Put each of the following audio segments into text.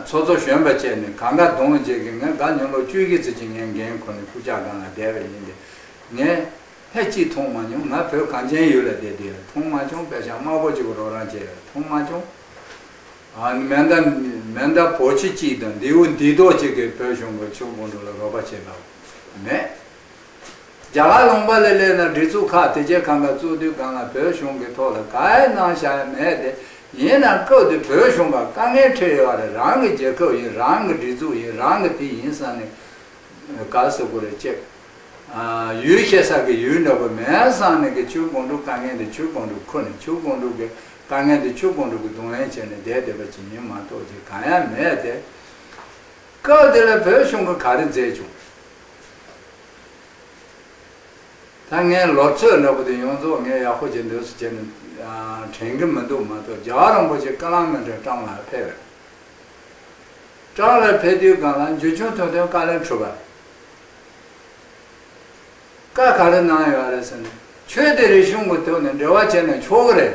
ཚོགས་གཙོ་གཞོན་པ་བཅས་ནས་གང་དགའ་གདོང་བརྗེད་ཀྱིས་ངས་དགའ་སྙམ་ལོ་བཅུའི་གི་ཚེ་ཇི་སྙེད་འགན་ཁུར་ནས་སྐུ་ཕྱྭ་སྒང་ལ་བསྡད་པ་ཡིན་ཏེ། ངས་ལྷད་ཅིག་མཐོང་མ་མྱོང་ང་བོད་གངས་ཅན་ཡུལ་ལ་བསྡད་དུས་ཡང་མཐོང་མ་བྱུང་དཔལ་ཞང་དམར་པོ་གཅིག་པུ་རོགས་རང་བྱས་ཡང་མཐོང་མ་བྱུང། མེ་མདའ་མེ་མདའ་བོ་ཆེ་གཅིག་དང་མདེའུ་མདེའུ་རྡོག་གཅིག་གིས་བོད་གཞུང་གི་ཆོས་དགོང་དྲོ་ལ་རོགས་པ་བྱས་པ་མེད། རྒྱ་གར་ལུང་པ་ལས་གླས་ན་སྒྲིག་འཛུགས་ཁག་དེ་རྒྱལ་ཁང་དང་གཙོས་དུས་གང་ལ་བོད་གཞུང་གི་ཐོག་ལ་ག་ཡེ་གནང་བཞག་ཡ་མེད་དེ་ཡིན་ནའང་སྐབས་དེ་བོད་གཞུང་གང་དཀའ་ངལ་འཕྲད་ཡོད་རེད་རང་གི་རྒྱལ་ཁབ་ཡིན་རང་གི་སྒྲིག་འཛུགས་ཡིན་རང་གི་དེ་ཡིན་བསམ་ནས་ག་ཟེར་དགོས་རེད་ཅེས། ཡུལ་བཤད་ས་ཀྱི་ཡུལ་འདྲ་པོ་མེད་བསམ་ནས་གི་ཆུ་དགོང་དྲུག་དཀའ་ངལ་འདི་ཆུ་དགོང་དྲུག་ཁུར་ནས་ཆུ་དགོང་དྲུག་གི་དཀའ་ངལ་འདི་ཆུ་དགོང་དྲུག་གི་རྡུང་ལེན་བྱས་ནས་བསྡད་བསྡད་པ་ཅི་ཡིན་མ་གཏོགས་ཅི་གང་ཡ་མེད་དེ། སྐབས་དེ་ལ་བོད་གཞུང་གི་ག་རེ་མཛད་བྱུང། ད་ངའི་ལོ་ཚོད་འདྲ་པོ་དེ་ཡོངས་རྫོགས་ངས་ཡག་པོ་བྱེད་འདོད་སུ་བྱེད་ནས་དྲན་གྱི་མི་འདུག་མ་གཏོགས་རྒྱ་གར་རིན་པོ་ཆེ་ཀ་ལང་མེ་འདྲ་ཀྲང་ལགས་ཕེབས་རེད། ཀྲང་ལགས་ཕེབས་དུས་སྒང་ལ་འཇུ་ཆུང་ཐོན་ཐོན་བཀའ་ལན་ཁྲུས་པ། བཀའ་ག་རེ་གནང་ཡོད་རེད་ཟེར་ནས་ཁྱོད་དེ་རིགས་གཞུང་གི་ཐོག་ནས་འབྲེལ་བ་བྱས་ནས་ཆོག་གི་རེད།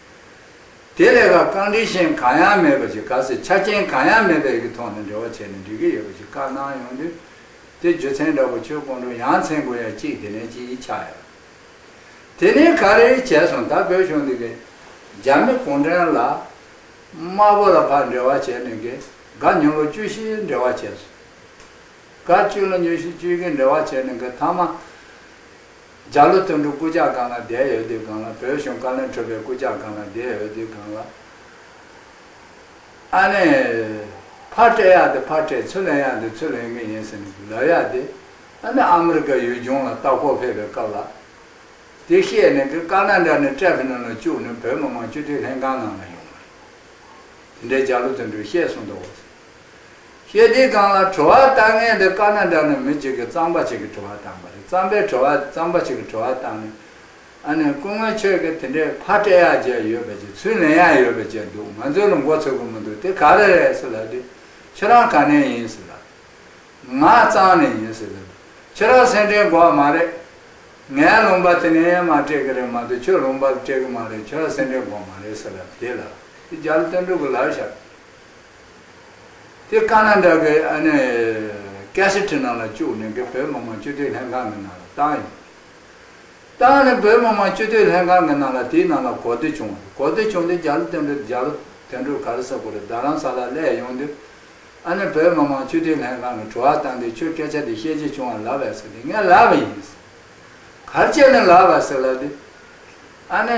དེ་ལས་ཀ་རྐང་འབྲི་ཞན་གང་ཡང་མེད་པ་ཞིག་ག་སྲིད་ཆ་རྐྱེན་གང་ཡང་མེད་པའི་གི་ཐོག་ནས་འབྲེལ་བ་བྱས་ནས་འབྲི་གི་ཡོད་པ་ཞིག་བཀའ་གནང་ཡོང་དུས། དེ་རྒྱུ་མཚན་འདྲ་པོ་ཁྱོད་ཀུན་འགྲོ་ཡང་མཚན་དགོས་ཡ་གཅིག་དེ་ནས་གཅིག་ཡིད་ཆགས་ཡོད། དེ་ནས་ག་རེ་བྱས་སོང་ད་བོད་གཞུང་འདི་གི། རྒྱ་མི་གུང་ཁྲན་ལ། དམར་པོ་ལ་ཕར་འབྲེལ་བ་བྱས་ནས་གི་ག་ཉུང་ལོ་བཅུ་བཞི་འབྲེལ་བ་བྱས་སོང། ག་བཅུ་ལོ་ཉུ་བཞི་བཅུ་གི་འབྲེལ་བ་བྱས་ནས་གི་ཐ་མ། འཇའ་ལུ་སྟོན་འབྲུག་སྐུ་ཇག་སྒང་ལ་བསྡད་ཡོད་དུས་སྒང་ལ་བོད་གཞུང་བཀའ་བློན་ཁྲོས་པའི་སྐུ་ཇག་སྒང་ལ་བསྡད་ཡོད་དུས་སྒང་ལ། ཨ་ནེ། ཕར་སྤྲད་ཡག་དེ་ཕར་སྤྲད་ཚུར་ལེན་ཡག་དེ་ཚུར་ལེན་གི་ཡིན་ཟེར་ནས་ལབ་ཡག་དེ། ཨ་ནེ་ཨ་མི་རི་ཀ་ཡུལ་ལྗོངས་ལ་ལྟ་སྐོར་ཕེབས་པའི་སྐབས་ལ། དེ་བཤད་ནས་གི་སྐར་སྣ་འདྲ་ནས་ཀྲེ་ཕི་ནོ་ལ་བཅུག་ནས་བོད་མི་མང་སྤྱི་འཐུས་ལྷན་ཁང་ནང་ལ་ཡོང་བ་རེད། དེ་འདྲའི་འཇའ་ལུ་སྟོན་འབྲུག་བཤད་སོང་འདུག། ཞེས་དེའི་སྒང་ལ་དྲི་བ་བཏང་མཁན་དེ་ཀ་ན་འདྲ་ནི་མི་གཅིག་གིས་གཙང་པ་གཅིག་གིས་དྲི་བ་བཏང་པ་རེད་གཙང་པའི་དྲི་བ་གཙང་པ་གཅིག་གིས་དྲི་བ་བཏང་ནས་ཨ་ནི་སྐུ་ངོ་ཁྱོད་ཀྱིས་དེ་འདྲའི་ཕ་སྤྲད་ཡག་བྱས་ཡོད་པ་ཅིག་ཚུར་ལེན་ཡག་ཡོད་པ་བཅས་འདུག་ང་ཚོའི་ལ་མགོ་ཚོད་གོ་མི་འདུག་དེ་ག་རེ་རེད་ཟེར་ལབ་དུས་ཁྱེད་རང་ག་ནས་ཡིན་ཟེར་ལབ་དུས་ང་གཙང་ནས་ཡིན་ཟེར་ལབ་དུས་ཁྱེད་རང་སེམས་ཁྲལ་འགོག་མ་རེད་ངས་ལུང་པ་དེ་ནས་ཡན་མར་སྤྲད་གི་རེད་མ་གཏོགས་ཁྱོད་ལུང་པ་ལ་སྤྲད་གི་མ་རེད་ཁྱེད་རང་སེམས་ཁྲལ་འགོག་མ་རེད་ཟེར་ལབ་དུས་དེ་ལ་དེ་རྒྱ་ལ་སྟོན་འགྲོ་གི་ལབ་ཤག་དེ་བཀག་ན་འདྲ་གི་ཨ་ནི། སྐད་ཤི་ཁྲི་ནང་ལ་བཅུག་ནས་གི་བོད་མི་མང་སྤྱི་འཐུས་ལྷན་ཁང་གི་ནང་ལ་བཏང་ཡོད། བཏང་ནས་བོད་མི་མང་སྤྱི་འཐུས་ལྷན་ཁང་གི་ནང་ལ་དེའི་ནང་ལ་གོ་བསྡུར་བྱུང། གོ་བསྡུར་བྱུང་དེ་རྒྱ་ལོ་དོན་གྲུབ་རྒྱ་ལོ་དོན་གྲུབ་ག་རེ་ས་གོ་རེ་རྡ་རམ་ས་ལ་སླེ་ཡོང་དུས། ཨ་ནི་བོད་མི་མང་སྤྱི་འཐུས་ལྷན་ཁང་གི་དྲུ་བ་བཏང་དུས་ཁྱོས་སྐད་ཆ་དེ་བཤད་རྒྱུ་བྱུང་བ་ལབ་བས་ཟེར་དུས་ངས་ལབ་ཡིན། གར་བྱས་ནས་ལབ་བ་ཟེར་ལབ་དུས། ཨ་ནི།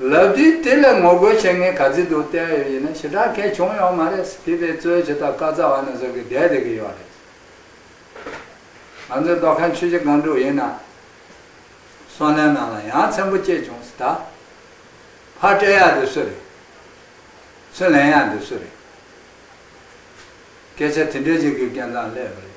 ལབ་དུས་དེ་ལ་ངོ་རྒོལ་བྱེད་མཁན་ག་ཚོད་འདུག་བལྟས་ཡོད་ཡིན་ན་ཞེ་དྲག་མཁན་བྱུང་ཡོད་མ་རེད་བྷི་བྷི་གཙོས་བྱེད་ཐབས་བཀའ་རྩ་བ་ན་ཟུག་གི་བསྡད་བསྡད་ཀྱི་ཡོད་རེད། ང་ཚོའི་རྡོ་ཁ་མཆུ་བྱེ་སྒང་དྲུག་ཡིན་ན་སོ་ནའི་ནང་ལ་ཡང་ཚན་པོ་སྐྱེས་བྱུང་ད་ཕར་སྤྲད་ཡག་འདི་སུ་རེད། ཚུར་ལེན་ཡག་འདི་སུ་རེད། སྐད་ཆ་དེ་འདྲས་བྱེད་དགོས་རྐྱེན་ཙམ་སླེབས་རེད།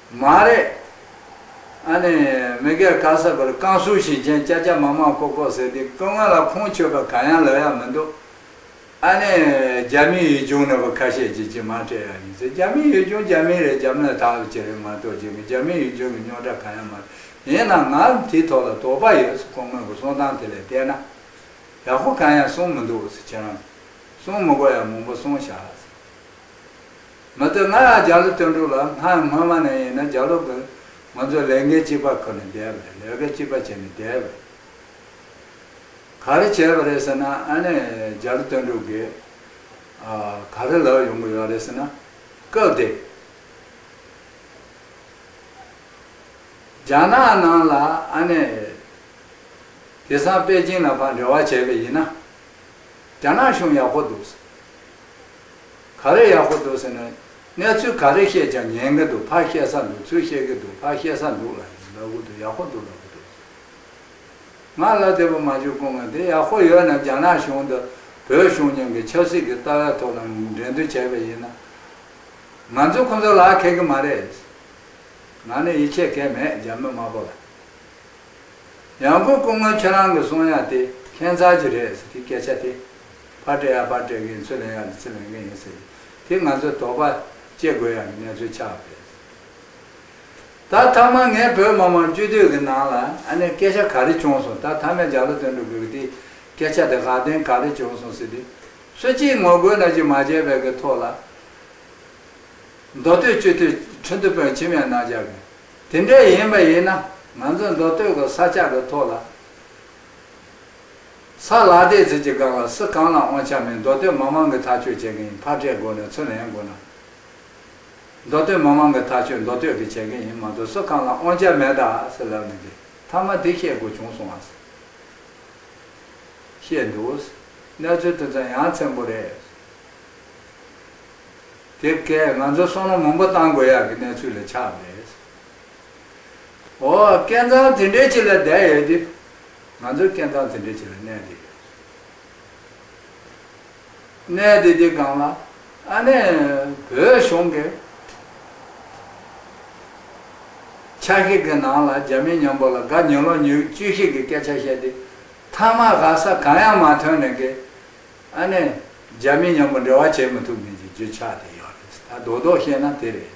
མ་རེད། ཨ་ནི་མི་སྒེར་ཁ་གསབ་པར་རྐང་གསུག་བྱེད་མཁན་སྐྱ་སྐྱ་མག་མག་ཀོག་ཀོག་ཟེར་དུས་སྐུ་ངོ་ལ་ཁུངས་འཁྱོལ་པ་གང་ཡང་ལབ་ཡ་མི་འདུག་ཨ་ནི་རྒྱ་མིའི་ཡུལ་ལྗོངས་ནོར་བུ་ཁ་ཤས་ཀྱིས་ཅི་མང་སྤྲད་ཡ་ཡིན་ཟེར་རྒྱ་མིའི་ཡུལ་ལྗོངས་རྒྱ་མིའི་རེད་རྒྱ་མི་ལ་དྭགས་ལ་ཅི་རེད་མ་གཏོགས་ཅི་མི་རྒྱ་མིའི་ཡུལ་ལྗོངས་ཀྱི་རྙོག་དྲ་གང་ཡང་མ་རེད་ཡིན་ནའང་ང་ལ་དེའི་ཐོག་ལ་དོགས་པ་ཡོད་ཟེར་ཁོང་སྔོན་གྱི་གསུང་སྟངས་དེ་ལས་བལྟས་ན་ཡག་པོ་གང་ཡང་གསུང་མི་འདུག་ཟེར་ཁྱེད་རང་གསུང་མི་དགོས་ཡ་མང་པོ་གསུང་བཞག་ཟེར། མི་སྡོད་ང་ཡང་རྒྱ་ལོ་སྟོན་འགྲོ་ལ་ང་སྔོན་མ་ནས་ཡིན་ན་རྒྱ་ལོ་དགོས། ང་ཚོ་ལས་འགན་གཅིག་པ་ཁུར་ནས་བསྡད་པ་རེད་ལས་ཀ་གཅིག་པ་བྱས་ནས་བསྡད་པ་རེད། ག་རེ་བྱས་པ་རེད་ཟེར་ན་ཨ་ནེ་རྒྱ་ལོ་སྟོན་འགྲོ་དགོས། ག་རེ་ལབ་ཡོང་གི་ཡོད་རེད་ཟེར་ན། སྐབས་དེ། རྒྱ་ནག་ནང་ལ་ཨ་ནེ། དེ་སང་པེ་ཅིང་ལ་ཕར་འབྲེལ་བ་བྱས་པས་ཡིན་ན། རྒྱ་ནག་གཞུང་ཡག་པོ་འདུག་ཟེར། ག་རེ་ཡག་པོ་འདུག་ཟེར་ན། གནས་ཚུལ་ག་རེ་བཤད་ཀྱང་ཉན་གི་འདུག་ཕར་བཤད་ས་འདུག་ཚུར་བཤད་གི་འདུག་ཕར་བཤད་ས་འདུག་ལ་ཡིན་ལབ་གི་འདུག་ཡག་པོ་འདུག་ལབ་གི་འདུག་ཟེར། ང་ལ་དེ་བུ་མ་ཇུས་ཀུང་ང་དེ་ཡག་པོ་ཡོད་ན་རྒྱ་ནག་གཞུང་དང་བོད་གཞུང་གཉིས་ཀྱི་ཆབ་སྲིད་ཀྱི་ལྟ་བའི་ཐོག་ལ་འགྲན་བསྡུར་བྱས་པ་ཡིན་ན། ང་ཚོ་ཁོང་ཚོ་ལ་མཁས་གི་མ་རེད། ང་ནི་ཡིད་ཆེས་མཁན་མེད་རྒྱ་མི་དམར་པོ་ལ། ཡང་གུ་ཀུང་ང་ཁྱོད་རང་གི་གསུང་དབྱངས་དེ་ཁྱད་མཚར་གྱི་རེད་ཟེར་གི་སྐད་ཆ་དེ། ཕར་བསྐྲད་ཡང་ཕར་བསྐྲད་མཁན་ཚུར་ལེན་ཡང་ཚུར་ལེན་མཁན་ཡིན་ཟེར་གི། དེ་ང་ཚོས་དོགས་པ་སྐྱེ་དགོས་ཡ་ངན་ཚོད་ཆགས་པས་རེད། ད་ཐ་མ་ངས་བོད་མི་མང་སྤྱི་འཐུས་ཀྱི་ནང་ལ་ཨ་ནེ་སྐད་ཆ་ག་རེ་བྱུང་སོང་ད་ཐ་མས་ལྗགས་ལ་དོན་འགྲུབ་དགོས་གི་དེ་སྐད་ཆ་དེ་དགའ་ལྡན་ག་རེ་བྱུང་སོང་ཟེར་དུས་སུ་གཅིག་ངོ་རྒོལ་ན་གཅིག་མ་བྱས་པའི་གི་ཐོག་ལ་མདོ་སྟོད་སྤྱི་འཐུས་ཁྲི་འདུ་དཔོན་ཁྱིམ་ཡང་གནང་བཞག་གི་དེ་འདྲས་ཡིན་པ་ཡིན་ན་ང་ཚོ་མདོ་སྟོད་ཀྱི་ས་ཆ་གི་ཐོག་ལ། ས་ལ་བལྟས་ཚོད་ཀྱིས་དགག་ལ་སུ་གང་ལའང་དབང་ཆ་མེད་མདོ་སྟོད་མང་མང་གི་ཐག་གཅོད་བྱེད་མཁན་ཡིན་ཕར་བཀྲལ་དགོས་ན་ཚུར་ལན་དགོས་ན། མདོ་སྟོད་མང་མང་གི་ཐག་གཅོད་མདོ་སྟོད་ཀྱིས་བྱེད་མཁན་ཡིན་མ་གཏོགས་སུ་གང་ལ་དབང་ཆ་མེད་ད་ཟེར་ལབ་ནི་འདི་མཐའ་མ་དེ་བཤད་དགོས་བྱུང་སོང་ཨཱ། བཤད་འདུག། གནས་ཚུལ་དེ་ཚོ་ཡང་ཚན་པོ་རེད། དེབ་སྐད་ང་ཚོ་སོང་ན་མང་པོ་བཏང་དགོས་ཡག་གི་གནས་ཚུལ་ལ་ཆགས་པ་རེད། ཨོ། སྐལ་མཚང་དེ་འདྲའི་ཆེད་ལ་བསྡད་ཡོད་དུས། ང་ཚོས་སྐལ་མཚང་དེ་འདྲའི་ཆེད་ལ་གནས་བསྡད་ཡོད། གནས་བསྡད་དེ་སྒང་ལ་ཨ་ནེ་བོད་གཞུང་གི་ཆ་ཤས་ཀྱི་ནང་ལ་རྒྱ་མི་མཉམ་པོ་ལ་དགའ་ཉོན་ལོག་ཉོས་བཅུ་ཤེས་ཀྱི་སྐད་ཆ་བཤད་དེ་མཐའ་མ་དགའ་ས་གང་ཡང་མ་ཐོན་ནས་ཀྱི་ཨ་ནེ་རྒྱ་མི་མཉམ་པོ་འབྲེལ་བ་བྱེད་མི་ཐུབ་མིན་གྱི་རྒྱུ་ཆ་དེ་ཡོད་རེད་ད་རྡོག་རྡོག་བཤད་ན་དེ་རེད།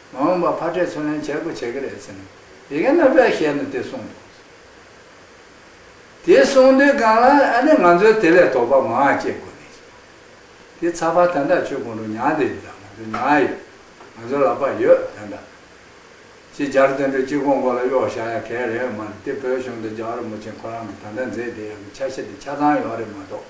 མ་འོངས་པར་ཕར་ཕྲད་ཚུར་ལེན་བྱེད་དགོས་བྱེད་ཀྱི་རེད་ཟེར་ནས་ཡི་གེ་སྣ་བས་ཞལ་ནས་དེ་གསུངས་འདུག་དེ་གསུངས་དུས་གང་ལགས་ཨ་ནི་ང་ཚོའི་དེ་ལས་དོགས་པ་མང་ཨ་སྐྱེས་དགོས་མེད་ཅེས་དེ་ཚགས་པར་དོན་དག་ཆུ་གང་དུ་མྱངས་དེ་ཡོད་དམ་ང་ཚོ་མྱངས་ཡོད་ང་ཚོ་ལག་པར་ཡོད་དོན་དག་ཅིག་སྦྱར་དོན་དུ་སྤྱི་ཁོག་མགོ་ལ་གཡོག་བཞག་ཡ་གལ་རེད་མ་རེད་དེ་བོད་གཞུང་དང་རྒྱ་གར་མུ་ཆེན་ཁོ་རང་གི་ད་ལྟ་མཛད་བདེ་ཡང་གི་ཆ་ཤས་དེ་ཆ་ཚང་ཡོད་རེད་མ་གཏོགས།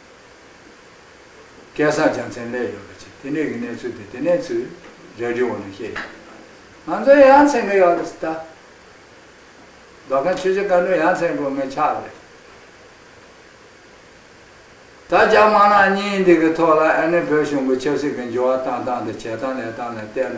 སྐལ་བཟང་ལྗང་མཚན་ལས་ཡོད་པ་ཅི་དེ་ནས་ཀྱི་གནས་ཚུལ་དེ་དེ་ནས་ཚུལ་རེ་རེ་འོག་ནས་བཤད་ཡོད་ང་ཚོ་ཡ་མཚན་གི་ཡོད་རེད་ད་བདག་མཁན་ཆོས་རྗེ་བཀའ་འདུན་ཡ་མཚན་དགོས་ངེས་ཆགས་རེད་ད་རྒྱ་དམག་ནག་གཉིས་འདི་གི་ཐོག་ལ་ཨ་ནི་བོད་གཞུང་གི་ཆབ་སྲིད་གི་འགྱུར་བ་བཏང་སྟངས་དང་བྱེད་སྟངས་ལས་སྟངས་ལ་བལྟས་ན།